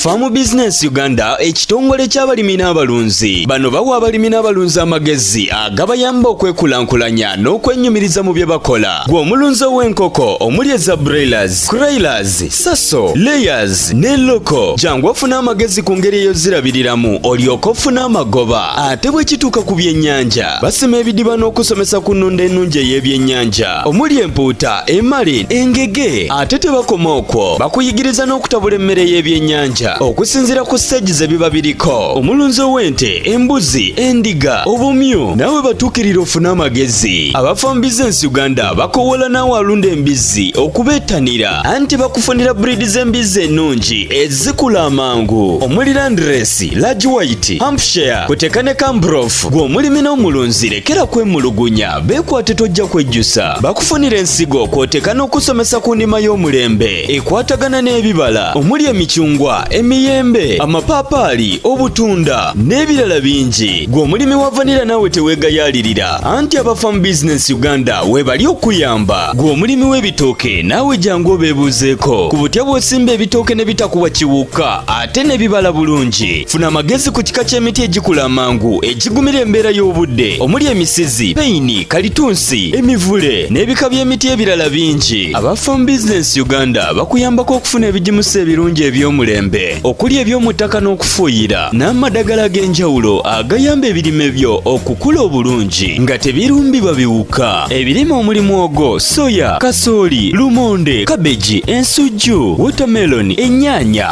Farm Business Uganda ekitongole ky'abalimi n'abalunzi bano bawa abalimi n'abalunzi amagezi agabayamba okwekulaakulanya n'okwenyumiriza mu bye bakola gwe omulunzi ow'enkoko omuli eza broilers, croilers, saso, layers ne loko jangu ofuna amagezi ku ngeri eyozirabiriramu olyoka ofuna amagoba ate bwe kituuka ku byennyanja basima ebidiba n'okusomesa ku nnunda ennungi ey'ebyennyanja omuli empuuta emali engege ate tebakoma okwo bakuyigiriza n'okutabula emmere y'ebyennyanja okusinziira ku siteegi ze biba biriko omulunzi ow'ente embuzi endiga obumyu naawe batuukirira ofune amagezi abafa mu bizinensi uganda bakowoola naawe alunda embizzi okubeettanira anti bakufunira buriidi z'embizzi ennungi ezikula amangu omuli landiresi lagi wayiti hampshire kuteka ne kambrof gw'omulimi n'omulunzi lekera kwemulugunya Beekwate tojja kwejjusa bakufunira ensigo kw'oteeka n'okusomesa ku nnima y'omulembe ekwatagana n'ebibala omuli emicungwa emiyembe amapaapaali obutunda n'ebirala bingi gwe omulimi wa vanira naawe teweegayaalirira anti aba farm business uganda weebali okuyamba gwe omulimi w'ebitooke naawe jangu obeebuuzeeko ku butya bw'osimba ebitooke ne bitakuwa kiwuka ate ne bibala bulungi funa amagezi ku kika ky'emiti egikula amangu egigumira embeera y'obudde omuli emisizi peyini kalitunsi emivule n'ebika by'emiti ebirala bingi aba farm business uganda bakuyambako okufuna ebigimusa ebirungi eby'omulembe okuli eby'omu ttaka n'okufuuyira n'amadagala ag'enjawulo agayamba ebirime byo okukula obulungi nga tebirumbibwa biwuka ebirime omuli mwogo soya kasooli lumonde kabeji ensujju wotameloni ennyaanya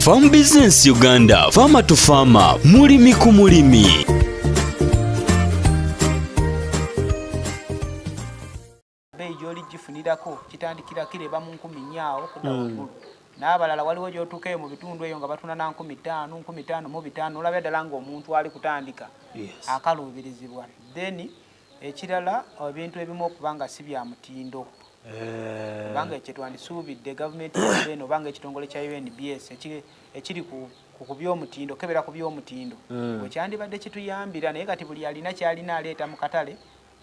Farm Business Uganda, Farmer to Farmer, mulimi ku mulimi. gyoligifunirako kitandikira kireba mu nkumi nyaawo kuda hmm. waggulu n'abalala waliwo gyotuuka eyo mu bitundu eyo nga batunda na nkumi ttaano nkumi ttaano mu bitaano olabya ddala ng'omuntu ali kutandika akaluubirizibwa then ekirala ebintu ebimu okuba nga si bya mutindo kubanga eh. kyetwandisuubidde gavumenti eno obanga ekitongole kya unbs ekiri ku byomutindo kebera ku byomutindo hmm. wekyandibadde kituyambira naye kati buli alina kyalina aleeta mu katale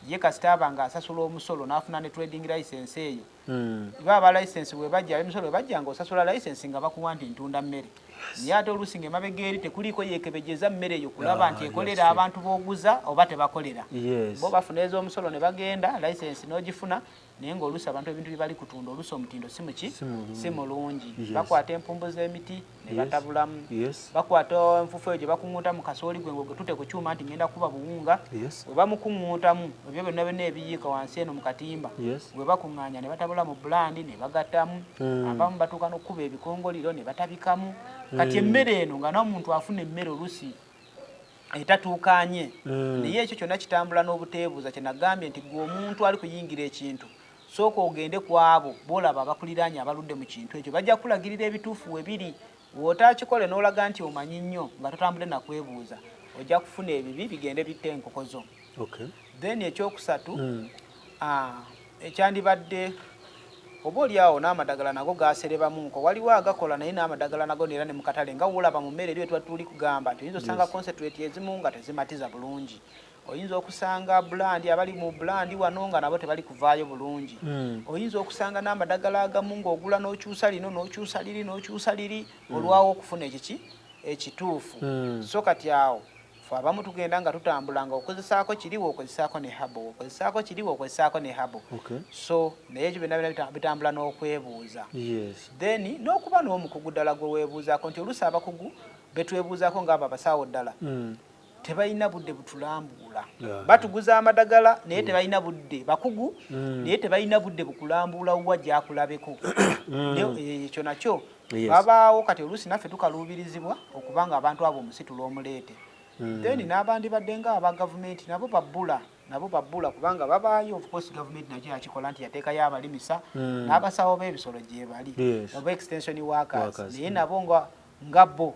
ye kasita aba nga asasula omusolo n'afuna ne trading license eyo hmm. iba aba license webajja abemisolo webajja nga osasula license nga bakuwa nti ntunda mmere naye ate oluusi nga emabega eri tekuliiko yeekebejeza mmere eyo kulaba ah, nti ekolera abantu b'oguza oba tebakolera bo bafuna ez'omusolo ne bagenda license n'ogifuna naye ngaoluusi abantu ebintu byebali kutunda oluusi omutindo si muki si mulungi bakwata empumbu z'emiti ne batabulamu bakwata enfufu eyo gye bakuŋŋuuta mu kasooli gwe ngotute ku kyuma nti ngenda kuba buwunga we bamukuŋŋuutamu ebyo byonna byonna ebiyiika wansi eno mu katimba we bakuŋŋaanya ne batabula mu bulandi ne bagattamu hmm. abamu batuuka nokukuba ebikongoliro ne batabikamu hmm. kati emmere eno nga nomuntu afuna emmere olusi etatuukanye hmm. naye ekyo kyonna kitambula n'obuteebuuza kyenagambye nti gwe omuntu ali kuyingira ekintu sooka ogende ku abo boolaba abakuliraanye abaludde mu kintu ekyo bajja kukulagirira ebituufu webiri Wootaakikole n'olaga nti omanyi nnyo nga totambudde na kwebuuza ojja kufuna ebibi bigende bitte enkoko zo. Then ekyokusatu hmm. ah, ekyandibadde oba oli awo n'amadagala nago gaserebamunko waliwo agakola naye n'amadagala nago neera ne mukatale nga wolaba mu mmere eri wetwa tuli kugamba nti oyinza osanga hmm. concentrate ezimu nga tezimatiza bulungi. oyinza okusanga bulandi abali mu bulandi wano nga nabo tebali kuvaayo bulungi hmm. oyinza okusanga n'amadagala agamu ng'ogula n'okyusa lino n'okyusa liri n'okyusa liri hmm. olwawo okufuna ekiki ekituufu hmm. so kati awo fe abamu tugenda nga tutambula nga okozesaako kiri wokozesaako ne habo wokozesaako kiri wokozesaako ne habo so naye ekyo byonna byona bitambula n'okwebuuza then n'okuba n'omukugu ddala gwe weebuuzaako nti oluusi abakugu betwebuuzaako ngaabo abasawo ddala tebalina budde butulambuula batuguza amadagala naye mm. tebalina budde bakugu mm. naye tebalina budde bukulambuula wa gyakulabeko mm. eh, ekyo nakyo babaawo kati oluusi naffe tukaluubirizibwa okuba nga abantu abo omusitula omuleete then n'abandi badde nga aba gavumenti nabo babbula nabo babbula kubanga babaayo ofcourse gavumenti nakyo yakikola nti yateekayo abalimisa n'abasawo b'ebisolo gyebali oba extension workers naye nabo nga bo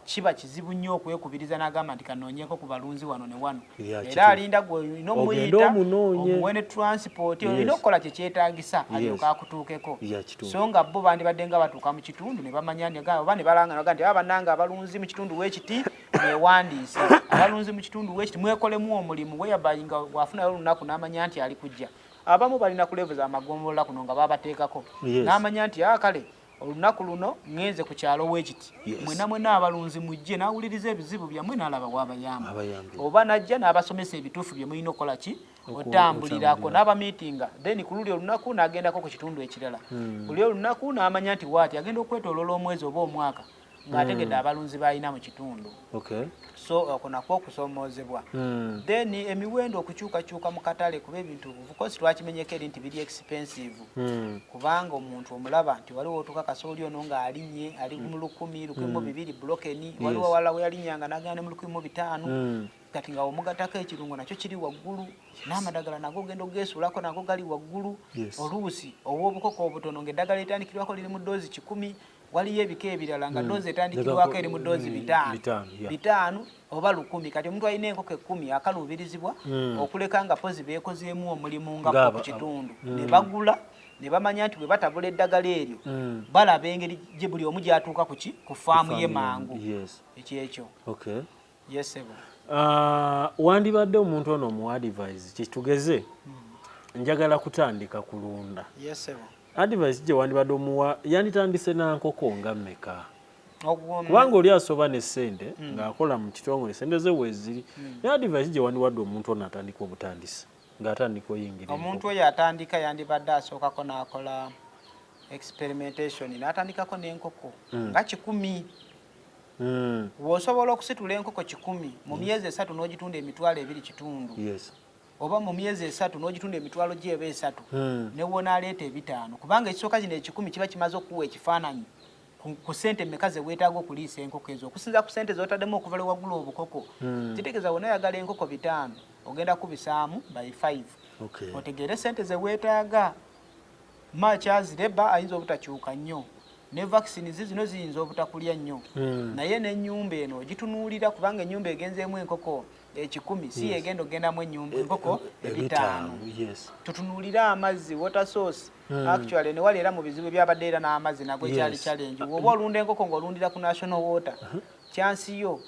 kiba kizibu nnyo okwekubiriza n'agamba nti kanoonyeeko ku balunzi wano ne wano era alinda gwolina omuyita omuwe ne transport olina okukola kye kyetaagisa alyoka akutuukeko so nga bo bandibadde nga batuuka mu kitundu ne bamanya oba ne balangaga nti aba bannanga abalunzi mu kitundu w'ekiti mwewandiise abalunzi mu kitundu w'ekiti mwekolemu omulimu weyabayi nga wafunayo olunaku n'amanya nti ali kujja abamu balina kulevu za magombolola kuno nga babateekako n'amanya nti a ah, kale olunaku luno ngenze ku kyalo wekiti mwena mwena abalunzi mujje nawuliriza ebizibu byamwe nalaba wabayamba oba najja nabasomesa ebituufu byemulina okukola ki otambulirako nabamitinga then kululi olunaku nagendako ku kitundu ekirala hmm. buli olunaku namanya nti waati agenda okwetolola omwezi oba omwaka ng'ategedde hmm. abalunzi b'alina mu kitundu so okwo nakwo okusoomoozebwa hmm. then emiwendo okukyukakyuka mu katale kuba ebintu bukosi twakimenyeko eri nti biri expensive hmm. kubanga omuntu omulaba nti waliwo otukakasa oli ono ng'alinnye ali mu lukumi lukumi mu bibiri bulokeni waliwo wala we yalinnya nga nagenda ne mu lukumi mu bitaano kati nga omugatako ekirungo nakyo kiri waggulu n'amadagala nago ogenda ogeesuulako nago gali waggulu oluusi ow'obukoko obutono ng'eddagala litandikirwako liri mu doozi kikumi waliyo ebika ebirala nga hmm. doozi etandikirwako eri mu doozi hmm, bitaano bitaano oba lukumi kati omuntu alina enkoko ekkumi akaluubirizibwa hmm. okuleka nga pozi beekozeemu omulimu nga ku kitundu ne bagula ne bamanya nti bwe batabula eddagala eryo balaba engeri gye buli omu gyatuuka ku ki ku faamu ye mangu ekyekyo yes sebo uh, wandibadde omuntu ono mu advise kitugeze hmm. njagala kutandika kulunda yes sebo advise gye wandibadde omuwa yanditandise na nkoko nga meka kubanga oli asoba ne sente hmm. ng'akola mu kitongole sente ze weziri hmm. ne advise gye wandiwadde omuntu ono atandika obutandisi ng'atandika oyingira omuntu oyo atandika yandibadde asookako n'akola experimentation n'atandikako n'enkoko hmm. nga kikumi hmm. wosobola okusitula enkoko kikumi mu hmm. myezi esatu n'ogitunda emitwalo ebiri kitundu oba mu myezi esatu n'ogitunda emitwalo gyeba esatu hmm. newonaaleeta ebitaano kubanga ekisooka kino ekikumi kiba kimaze okukuwa ekifaananyi ku sente meka zeweetaaga okuliisa enkoko ezo okusinza ku sente zotaddemu okuva lwewagula obukoko kitegeeza wona oyagala enkoko bitaano ogenda kubisaamu by 5 otegeere sente zeweetaaga Machazi leba ayinza obutakyuka nnyo ne vaccine zi zino ziyinza obutakulya nnyo hmm. naye n'ennyumba eno ogitunuulira kubanga ennyumba egenzeemu enkoko ekikumi si yegenda okugendamu ennyumba eh, enkoko eh, eh, ebitaano tutunuulire amazzi water source hmm. actually newali era mu bizibu ebyabadde era n'amazzi nago ekyali challenge woba olunda enkoko ng'olundira ku national water uh-huh. kyansi yo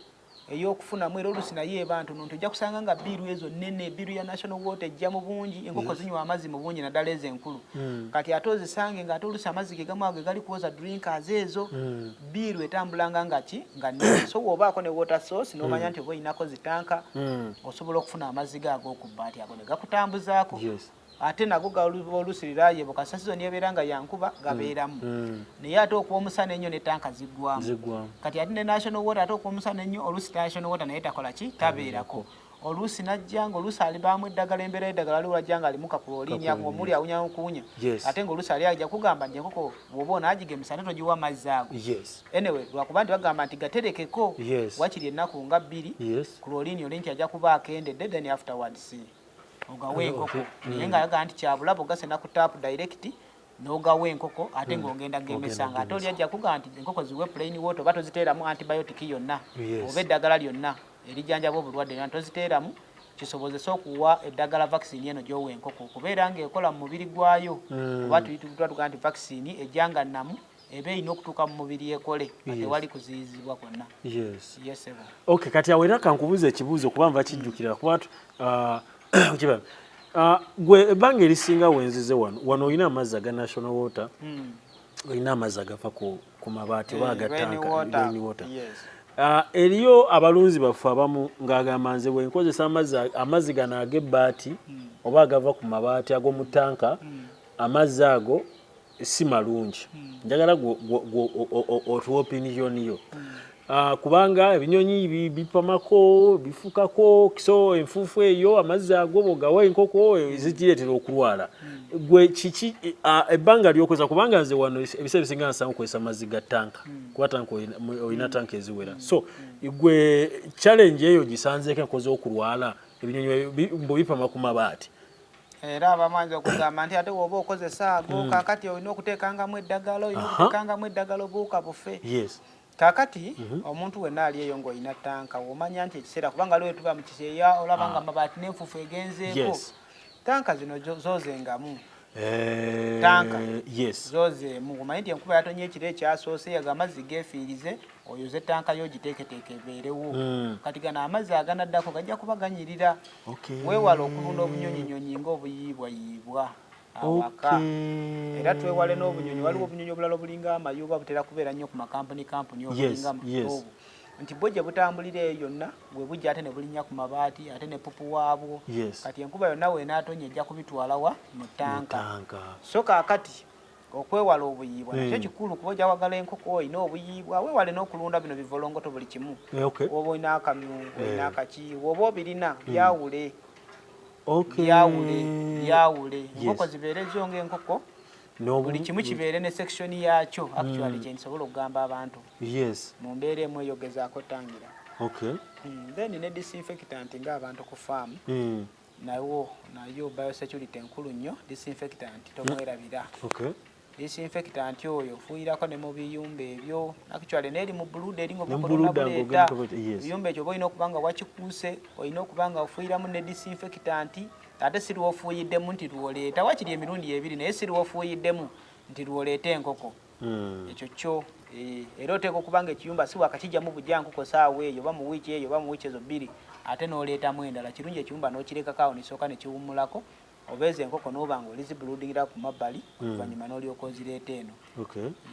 eyokufunamu era olusi naye eba ntono nti ojja kusanga nga biiru ezo nene biiru ya national water ejja mu bungi enkoko zinywa amazzi mu bungi naddala ezo enkulu hmm. kati ate ozisange nga ate olusi amazzi ge gamu ago egali kuwoza drinkers ezo hmm. biiru etambulanga nga ki nga nene so woobaako ne water source nomanya hmm. nti oba olinako zitanka osobola okufuna amazzi ge ag'okubbaati ago ne gakutambuzaako ate nago galuba oluusi lirayebuka sasizoni ebeera nga yankuba gabeeramu mm. mm. naye ate okuwa omusana ennyo ne tanka ziggwamu kati ate ne national water ate okuwa omusana ennyo oluusi national water naye takola ki tabeerako oluusi najja nga oluusi alibaamu eddagala embeera eddagala ali wajja nga alimu kapula olinya omuli awunya okuwunya ate nga oluusi ali aja kugamba nti enkoko bwoba onaagigemesa ate togiwa amazzi ago anyway lwakuba nti bagamba nti gaterekeko wakiri ennaku nga bbiri ku lwoliini oli nti ajja kuba akendedde then afterwards ogawa enkoko mm. naye ng'ayagala nti kyabulabo gasena ku taapu direct n'ogawa enkoko ate mm. ng'ogenda gemesanga ate oli ajja kugaa nti enkoko ziwe plain water oba toziteeramu antibiotic yonna oba eddagala lyonna erijanjaba obulwadde yona toziteeramu kisobozese okuwa eddagala vaccine eno gyowa enkoko okubeera ng'ekola mu mubiri gwayo mm. oba tuituga nti vaccine ejanga namu ebe ino okutuka mu mubiri yekole ate wali kuziyizibwa konna yes yes ebo okay kati awera kankubuza ekibuzo kuba nva kijjukira kuba uh, kiba uh, gwe ebanga erisinga wenzize wano wano oyina amazi aga national water mm. oyina amazi agafa ku, ku mabaati oba eh, agatanka rain water yes. Uh, eriyo abalunzi baffe abamu ng'agamba nze bwe nkozesa amazzi gano ag'ebbaati hmm. oba agava ku mabaati ag'omu tanka hmm. amazzi ago si malungi hmm. njagala otuwa opiniyoni yo hmm. ah, kubanga ebinyonyi bipamako bifukako so enfuufu eyo amazzi ago bogawa enkoko hmm. zigireetera okulwala gwe kiki ah, ebbanga lyokozesa kubanga nze wano ebiseera ebisinga nsanga okozesa amazzi ga tanka kuba tanka olina tanka eziwera so gwe challenge eyo gisanzeeko enkozi okulwala ebinyonyi mbubipama ku mabaati era abamu ayinza okugamba nti ate woba okozesa ago mm. kakati olina okuteekangamu eddagala olina okuteekangamu eddagala obuuka bufe kakati mhm. omuntu wenna ali eyo ng'olina tanka womanya nti ekiseera kubanga lwe tuba mukiseeya olaba nga ah. mabaati n'enfufu egenzeeko tanka zino zozengamu eh, tanka zozeemu omanyi nti enkuba yatonye ekiro ekyasoose yaga amazzi gefiirize oyoze tanka yo giteeketeeke ebeerewo hmm. kati gano amazzi aganaddako gajja kuba ganyirira weewala okubuna obunyonyinyonyi ngaobuyiibwayiibwa awaka era twewale n'obunyonyi waliwo obunyonyi obulala obulinga amayuba butera kubeera nnyo ku makampuni kampuni obulinga muobu nti bwo gye butambulira eyo yonna we bujja ate ne bulinnya ku mabaati ate ne pupu waabwo kati enkuba yonna weenaatonya ejja kubitwalawa mu tanka so kaakati okwewala obuyiibwa nakyo hmm. kikulu kuba ojawagala enkoko olina obuyiibwa wewale n'okulunda bino bivolongoto buli kimu eh, oba olina akamyu eh. olina akaki woba obirina hmm. byawule byawule byawule enkoko zibeere zo ngaenkoko buli kimu hmm. kibeere ne section yaakyo actually kyendisobola okugamba abantu mu mbeera emu eyogezaako tangira then ne disinfectant ngaabantu ku faamu nawo nayo biosecurity nkulu nnyo disinfectant tomwerabira hmm. okay. disinfectant oyo fuuyirako ne mu biyumba ebyo actually neeri mu buluda eri ngobukonabuleeta biyumba ekyo oba olina okuba nga wakikuuse olina okuba nga ofuuyiramu ne disinfectant ate si lwofuuyiddemu nti lwoleeta wakiri emirundi ebiri naye si lwofuuyiddemu nti lwoleeta enkoko hmm. ekyo kyo eh, era oteeka okuba nga ekiyumba si wakakijjamu bujankuko saawa eyo oba mu wiiki eyo oba mu wiiki ezo bbiri ate n'oleetamu endala kirungi ekiyumba n'okirekako awo nesooka nekiwummulako oba ezo enkoko n'oba nga olizibuludingira ku mabbali hmm. oluvannyuma n'olyoka ozireeta eno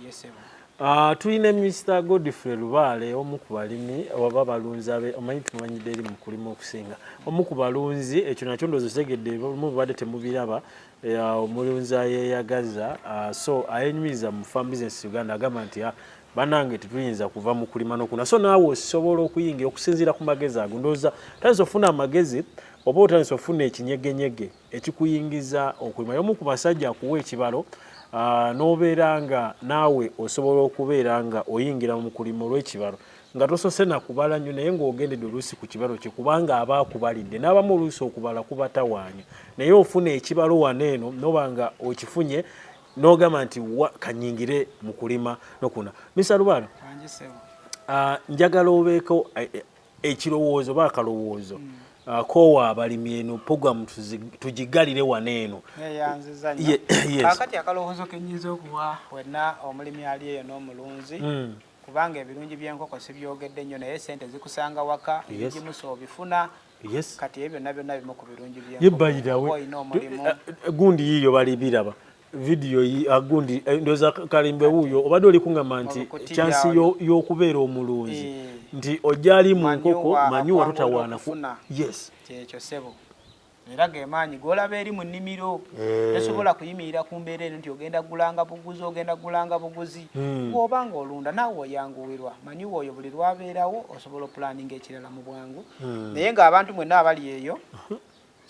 yesebo ah, tulina mr godfrey lubaale omu ku balimi oba balunzi abe omanyi tumanyidde eri mu kulima okusinga omu ku balunzi ekyo nakyo ndoozi okitegedde olumu bubadde temubiraba omulunzi ayeyagaza uh, so ayenyumiriza mu farm business uganda agamba nti ah, banange tetuyinza kuva mu kulima nokuna so naawe osobola okuyingira okusinziira ku magezi ago ndowooza tandisa ofuna amagezi oba otandisa ofuna ekinyegenyege ekikuyingiza okulima yomu ku basajja akuwa ekibalo uh, n'obeera nga naawe osobola okubeera nga oyingira mu kulima olw'ekibalo nga tosose nakubala nyo naye ng'ogendedde oluusi ku kibalo kye kubanga aba akubalidde n'abamu oluusi okubala kubatawaanya naye ofuna ekibalo wano eno noba nga okifunye n'ogamba nti wa kanyingire mu kulima nokuna misa lubaano ah, njagala obeeko eh, eh, ekirowoozo oba akalowoozo mm. Uh, kowa abalimi eno program tugigalire wano eno kakati akalowoozo kenyinza okuwa wenna omulimi ali eyo n'omulunzi hmm. kubanga ebirungi by'enkoko sibyogedde nnyo naye sente zikusanga waka ebigimusa obifuna kati ebyo byonna byonna bimu ku birungi by'enkokoolina omulimu eh, eh, gundi yiyo bali biraba vidiyo ah, gundi eh, ndoza kalimbe wuuyo obadde oli kuŋama nti kyansi y'okubeera omulunzi nti ojali mu nkoko manyiwa totawaanaku yes kyekyo sebo era gemaanyi golaba eri mu nnimiro eh. tosobola kuyimirira ku mbeera eno nti ogenda gulanga buguzi ogenda gulanga buguzi hmm. bwoba nga olunda naawe oyanguwirwa manyi woyo buli lwabeerawo osobola opulaninga ekirala mu bwangu hmm. naye ngaabantu mwenna abali eyo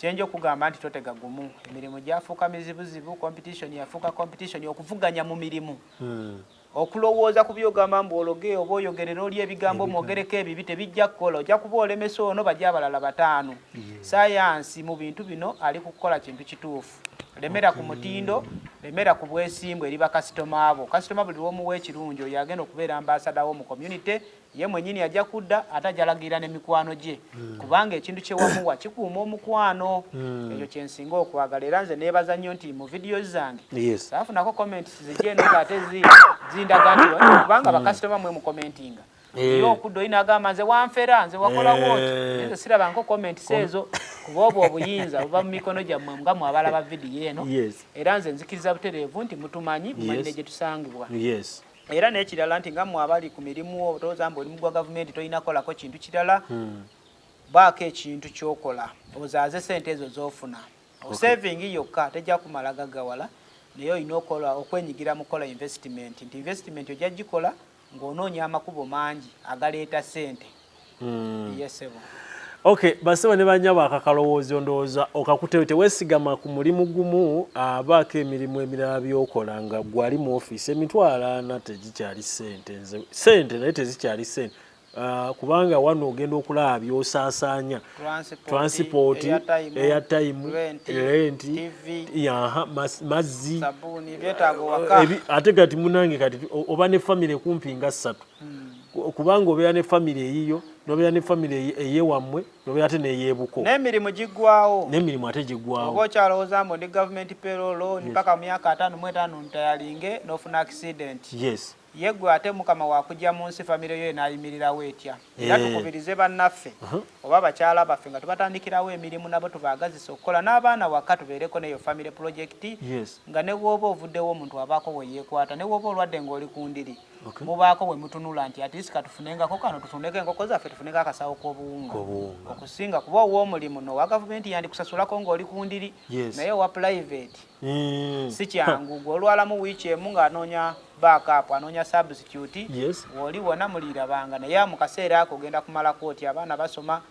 kyenja okugamba nti totega gumu emirimu gyafuuka mizibuzibu competition yafuuka competition okuvuganya mu mirimu hmm. okulowooza ku byogamba mbu ologe oba oyogerera oli ebigambo mwogereko ebibi tebijja kukola ojja kuba olemesa ono bajja abalala bataano sayansi mu bintu bino ali kukukola kintu kituufu lemera ku mutindo lemera ku bwesimbu eri bakasitoma abo kasitoma buli lwomuwa ekirungi oyo agenda okubeera ambasadawo mu community ye mwenyini ajja kudda ate ajalagira ne mikwano gye mm. kubanga ekintu kyewamuwa kikuuma omukwano mm. ekyo kyensinga okwagala era nze nebaza nnyo nti mu vidiyo zange yes. afunako comments zijeno ngaate zindaga nti kubanga mm. bakasitoma mwe mukomentinga eh. yo okudda olina agamba nze wanfera nze wakola eh. woti ezo sirabanko comments ezo kuba obwo obuyinza buba mu mikono gyammwe nga mwabala ba vidiyo eno era nze nzikiriza butereevu nti mutumanyi mumanyi ne gye tusangibwa era n'ekirala nti nga mwe abali ku mirimu otooza mbu oli mugwa gavumenti tolina kolako kintu kirala hmm. baako ekintu kyokola ozaaze sente ezo zofuna osaving yokka tejja kumala gagawala naye olina okola okwenyigira mu kukola investimenti nti investimenti ojja gikola ng'onoonya amakubo mangi agaleeta sente mm. yes, okay basebo ne banyabo akakalowoozo ndowooza okakuteyo tewesigama ku mulimu gumu abaako emirimu emirala byokola nga gwali mu ofiisi emitwalo ana tegikyali sente nze sente naye tezikyali sente Uh, kubanga wano ogenda okulaba byosaasaanya transipooti eya tayimu renti mazzi ate kati munange kati oba ne famire kumpi nga ssatu hmm. kubanga obeera ne famire eyiyo nobeera ne famire eyewammwe nobeera ate neyebuko nemirimu giggwawo nemirimu ate giggwawo oba okyalowooza mbu ndi gavumenti perolo ni paka myaka ataano mu etaano ntayalinge nofuna accident yes ye gwe ate mukama wakujja mu nsi famire yo enayimirirawo etya era eh. tukubirize bannaffe uh-huh. oba bakyala baffe nga tubatandikirawo emirimu nabo tubaagazisa okukola n'abaana waka tubeereko neyo famire pulojekiti nga ne wooba ovuddewo omuntu abaako weyeekwata ne wooba olwadde ng'oli ku ndiri okay. mubaako bwe mutunula nti atisi katufunengako kano tutundeko enkoko zaffe tufuneko akasawo k'obuwunga okusinga kuba ow'omulimu nowa gavumenti yandikusasulako ng'oli ku ndiri yes. naye owa pulaiveeti mm. si kyangu gwe olwalamu wiiki emu ng'anoonya backup anoonya substitute yes. woli wona muliirabanga naye mu kaseera ako ogenda kumalako oti abaana basoma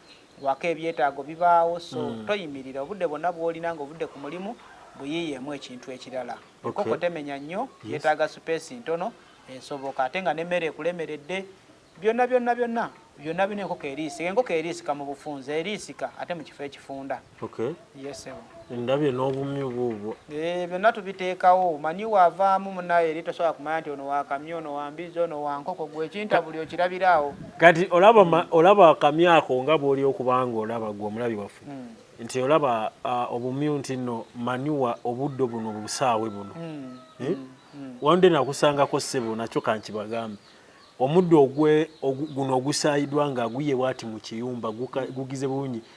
wako ebyetaago bibaawo so mm. toyimirira obudde bwonna bwolina nga obudde ku mulimu buyiyeemu ekintu ekirala okay. enkoko temenya nnyo yes. yetaaga supeesi ntono esoboka ate nga nemmere ekulemeredde byonna byonna byonna byonna bino enkoko eriisika enkoko eriisika mu bufunzi eriisika ate mu kifo ekifunda okay. ndabye n'obumyu buubwo eh, byonna tubiteekawo manyi waavaamu munaye eri tosobola kumanya nti ono wakamya ono wambizi ono wankoko gwe ekinta buli okirabiraawo kati olaba akamya ako nga bwoli okubanga olaba gwe omulabi waffe hmm. nti olaba obumyu nti no manyuwa obudde buno busaawe buno hmm. Eh? Hmm. wande nakusangako ssebo nakyo kankibagambe omuddo ogwe guno ogusayidwa nga guye bwati mu kiyumba gugize bulungi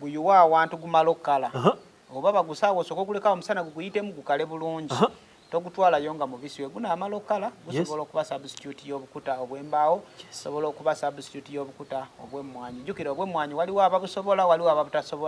guyuwa awantu gumala okukala oba bagusaawo osooka okulekawo omusana guguyitemu gukale bulungi togutwalayo nga mubisi we gunaamala okukala gusobola okuba substitute y'obukuta obw'embaawo sobola okuba substitute y'obukuta obw'emmwanyi jjukira obw'emmwanyi waliwo ababusobola waliwo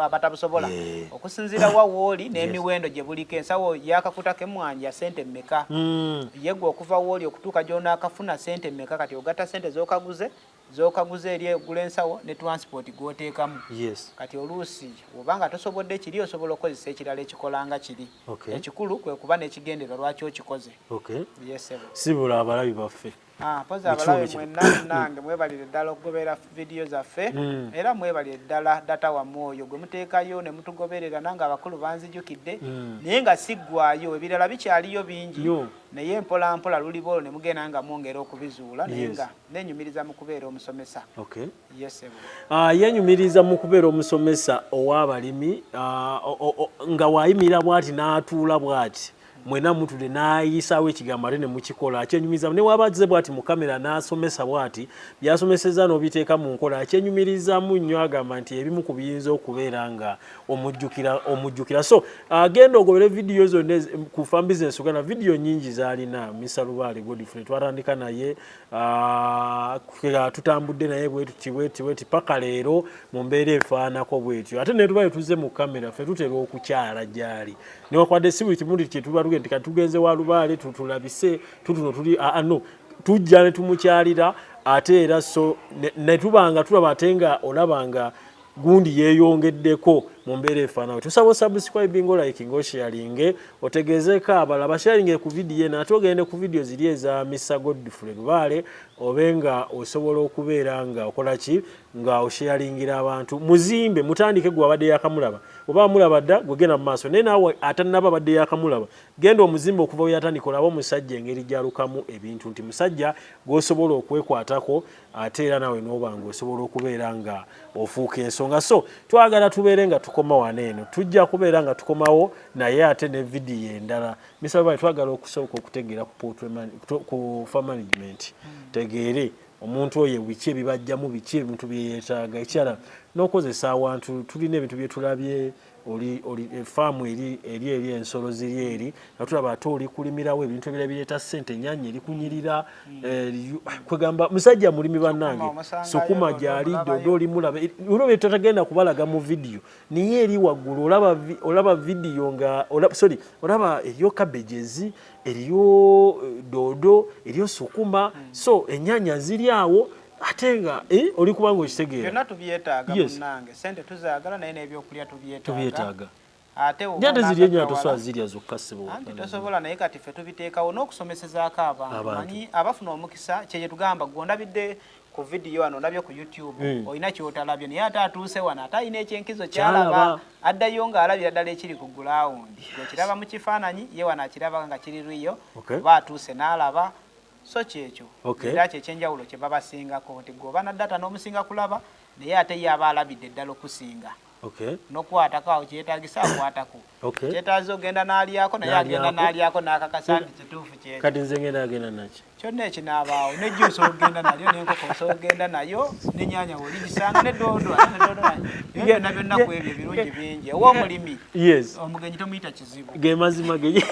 abatabusobola okusinziira wa wooli n'emiwendo gye buliko ensawo y'akakuta k'emmwanyi ya sente mmeka hmm. yegwe okuva wooli okutuuka gy'onaakafuna sente mmeka kati ogatta sente z'okaguze zokaguza eri egula ensawo ne transport gwoteekamu yes. kati oluusi oba nga tosobodde kiri osobola okukozesa ekirala ekikola nga kiri okay. ekikulu kwe kuba n'ekigenderwa lwaki okikoze okay. yes, sibula abalabi baffe ah, poza abalabi mwenna nange mwebalire ddala okugoberera vidiyo zaffe mm. era mwebalire ddala data wamu oyo gwe muteekayo ne mutugoberera nange abakulu banzijukidde mm. naye nga siggwayo ebirala bikyaliyo bingi naye mpolampola luliba olwo ne mugenda nga mwongera okubizuula naye nga yes. nenyumiriza mu kubeera omusomesa okay. yes, uh, yenyumiriza mu kubeera omusomesa ow'abalimi uh, nga wayimirira bwati n'atuula bwati mwena mutude nayisaawo ekigambo ate nemukikola akyenyumiriza newaba agize bwati mu kamera nasomesa bwati byasomeseza nobiteeka mu nkola akyenyumirizamu nnyo agamba nti ebimu ku biyinza okubeera nga omujjukira omujjukira so agenda uh, ogobere vidiyo zonna ku fan business uganda vidiyo nyingi zalina misalubaale godfrey twatandika naye Ah, tutambudde naye bwetutiwetiweti paka leero mu mbeera efaanako bwetyo ate netuba etuze mu kamera fe tutera okukyala gyali newakwadde si buli kimu kyetuba tugende kati tugenze wa lubaale tutulabise tutuno tuli ano ah, ah, tujja ne tumukyalira ate era so netuba nga tulaba ate nga olaba nga gundi yeyongeddeko mu mbeera efaanawe tusaba osubscribe nga olayiki nga osharinge otegeezeeko abala basharinge ku vidiyo eno ate ogende ku vidiyo ziri eza misa godfrey lubaale obe nga osobola okubeera nga okola ki nga osharingira abantu muzimbe mutandike gwe abadde yakamulaba oba amulaba dda gwegenda mu maaso naye naawe atanaba abadde yakamulaba genda omuzimbe okuva weyatandika olaba omusajja engeri gyalukamu ebintu nti musajja gwosobola okwekwatako ate era nawe nobanga osobola okubeera nga ofuuka ensonga so twagala tubeere nga tukoma wano eno tujja kubeera nga tukomawo naye ate ne vidiyo endala misalba twagala okusooka okutegeera ku fa management tegeere omuntu oyo biki ebibajjamu biki ebintu byeyetaaga ekirala n'okozesa awantu tulina ebintu byetulabye oli oli eh, farm eri eri eri ensolo ziri eri atulaba ate oli kulimirawo ebintu ebira bireta sente nyanya eri kunyirira mm. eh, ah, kwegamba musajja mulimi banange sukuma jali dodo oli mulaba eh, uno betatagenda kubalaga mu video niye eri wagulu olaba olaba video nga olaba sorry olaba eriyo cabbages eriyo dodo eriyo sukuma mm. so enyanya ziri awo ate nga eh, oli kubanga okitegeera byonna tubyetaaga munnange sente tuzaagala naye n'ebyokulya tubyetaaga ate ate ziri enyo atosobola zirya zokka siboanti tosobola naye kati ffe tubiteekawo n'okusomesezaako abantu manyi abafuna omukisa kyeye tugamba gwondabidde ku vidiyo wano olabye ku youtube hmm. olina kyotalabye naye ate atuuse wano ate alina ekyenkizo kyalaba addayo ng'alabira ddala ekiri ku gulawundi ekiraba mu kifaananyi ye wano akiraba nga kiri riyo oba atuuse n'alaba so kyekyo era kyekyenjawulo kyebabasingako nti gwe oba na data n'omusinga kulaba naye ate ye aba alabidde ddala okusinga nokukwatako awo kyetagisa akwatako kyetaza ogenda nalyako naye agenda nalyako nakakasa nti kituufu kyekati nze ngenda agenda nakyo kyonna ekinaabaawo nejjuusa ogenda nalyo nenkoko nsobola ogenda nayo nenyanya woligisanga nedondo byonna byonna ku ebyo ebirungi bingi owomulimi omugenyi tomuyita kizibu gemazima ge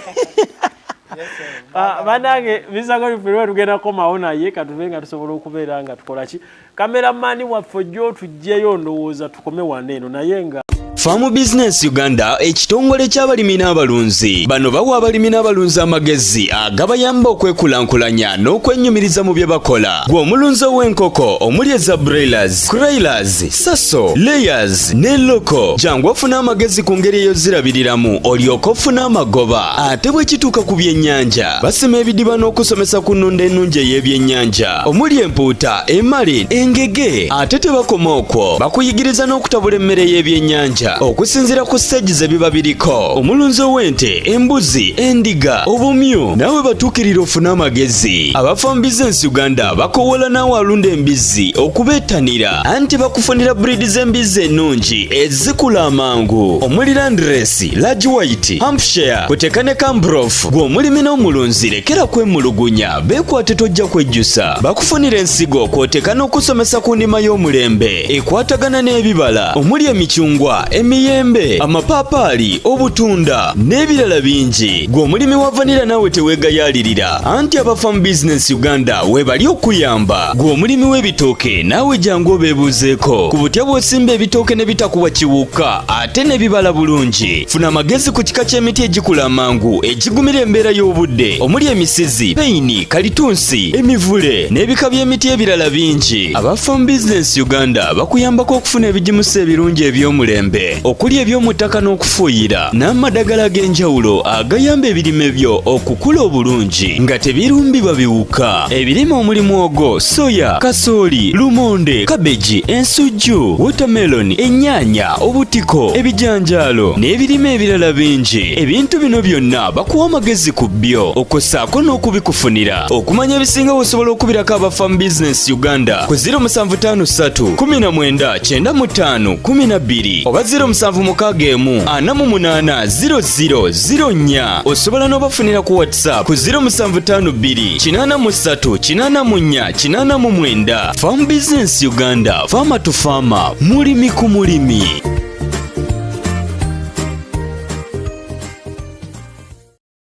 Ah, banange bisagolifirwe tugenda komawo naye katuve nga tusobola okubeera nga tukola ki kameramani waffe ojja otugjeyo ndowooza tukome wana eno naye nga Farm Business Uganda ekitongole ky'abalimi n'abalunzi bano bawa abalimi n'abalunzi amagezi agabayamba okwekulaakulanya n'okwenyumiriza mu bye bakola. Gwe omulunzi ow'enkoko omuli eza broilers, croilers, saso layers ne loko jangu ofuna amagezi ku ngeri eyozirabiriramu olyoka ofuna amagoba ate bwe kituuka ku byennyanja basima ebidiba n'okusomesa ku nnunda ennungi ey'ebyennyanja omuli empuuta emali engege ate tebakoma okwo bakuyigiriza n'okutabula emmere y'ebyennyanja okusinziira ku siteegi ze biba biriko omulunzi ow'ente embuzi endiga obumyu naawe batuukirira ofune amagezi abafambiza ensi uganda bakowoola naawe alunda embizzi okubeetanira anti bakufunira buriidi z'embizzi ennungi ezikula amangu omuli landiresi lagi wayiti hampshire kuteka ne kambrof gw'omulimi n'omulunzi lekera kwemulugunya beekwate tojja kwejjusa bakufunira ensigo kwoteka n'okusomesa ku ndima y'omulembe ekwatagana n'ebibala omuli emicungwa emiyembe amapaapaali obutunda n'ebirala bingi gw'omulimi wa vanira naawe teweegayaalirira anti abafamu bizinesi uganda webali okuyamba gwe omulimi w'ebitooke naawe jangu obeebuuzeeko ku butya bw'osimba ebitooke ne bitakuwa kiwuka ate ne bibala bulungi funa amagezi ku kika ky'emiti egikula amangu egigumira embeera y'obudde omuli emisizi peyini kalitunsi emivule n'ebika by'emiti ebirala bingi aba farm business uganda bakuyambako okufuna ebigimusa ebirungi eby'omulembe okuli ebyomuttaka n'okufuuyira n'amadagala ag'enjawulo agayamba ebirime byo okukula obulungi nga tebirumbibwa biwuka ebirime omuli mwogo soya kasooli lumonde kabeji ensujju wotameloni ennyaanya obutiko ebijanjaalo n'ebirime ebirala bingi ebintu bino byonna bakuwa amagezi ku byo okussaako n'okubikufunira okumanya ebisinga wosobola okubirako abafamu bizinesi uganda ku 0753 19 kyenda mu ttaano kumi na bbiri oba ziro musanvu mukaaga emu ana mu munaana ziro ziro ziro nnya osobola n'obafunira ku whatsapp ku ziro musanvu ttaano bbiri kinaana mu ssatu kinaana mu nnya kinaana mu mwenda farm business uganda faama tu faama mulimi ku mulimi